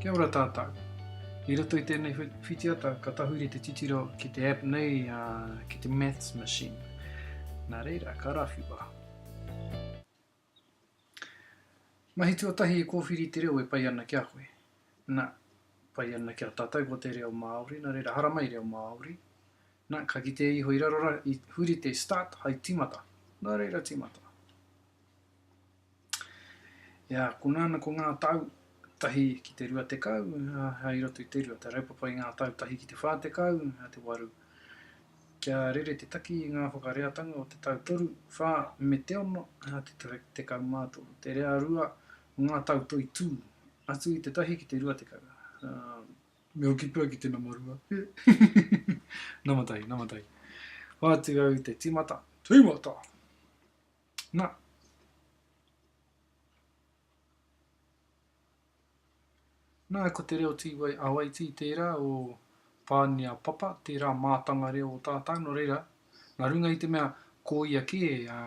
Kia ora tātou. I roto i tēnei whitiata ka tahuri te titiro ki te app nei a ki te Maths Machine. Nā reira, ka rawhiwa. Mahi tuatahi e kōwhiri te reo e pai ana ki a koe. Na, pai ana ki a tātou ko te reo Māori, nā reira haramai reo Māori. Na, ka kitea iho i raro ra, i huri te start hai tīmata. Nā reira tīmata. Ia, ko nāna ko ngā tau tahi ki te rua tekau, hai roto i te rua, te raupapa i ngā tau tahi ki te whā tekau, hai te waru. Kia rere te taki i ngā whakareatanga o te tau toru, whā, me te ono, hai te tau tekau mā toru. Te rea rua o ngā tau toi tū, atu i te tahi ki te rua tekau. Um. Me hoki pea ki te nama rua. nama tahi, nama tahi. Hoatu au te tīmata, tīmata! Na. Na, ko te reo Tīwai Awaiti tērā o Pānia Papa, tērā mātanga reo o tātau, nō reira, nā runga i te mea ko ia kē, ā,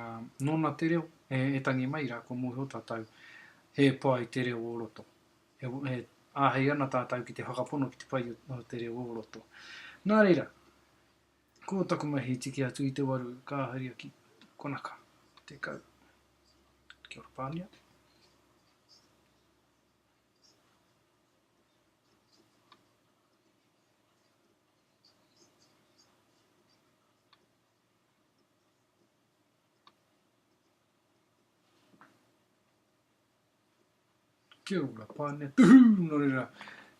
nōna te reo e, e tangi mai, rā, kua mōhio tātau he pai te reo o roto. E, e āhei ana tātau ki te whakapono ki te pai o te reo o roto. Nā reira. Ko taku mahi he tiki atu i te waru ka haria ki konaka. Tekau. Kia ora Pania. Kia ora, Pānea. Tuhū! Nō reira,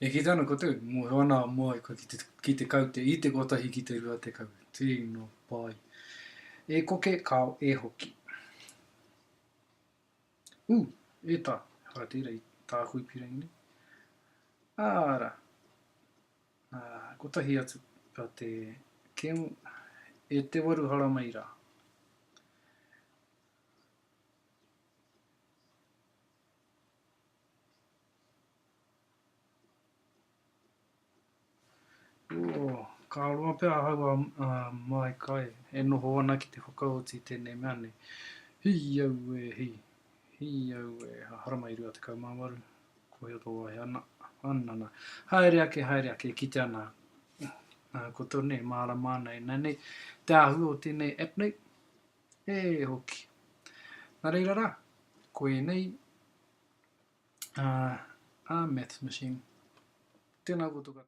e kite ana koutou, mōhio ana a Moai kua kite, kite kau te i te kotahi ki te rua tekau. Tino pai. E koke, kāo, e hoki. Ū, e tā, ehara tērā i tāku i pīrangi nei. Ārā, ā, kotahi atu, a te kemu, e te waru haramai rā. Ka roa pea ahau a Maai Kai e noho ana ki te whakaoti i tēnei mea nei. Hi aue hi, hi aue ha, haramai 28, Kohia tō wahi ana, ana na, haere ake, haere ake, e kite ana koutou nei, e mārama ana e nā nei te āhua o tēnei app nei. E hoki. Na reira ra, ko enei a Maths Machine. Tena koutou katoa.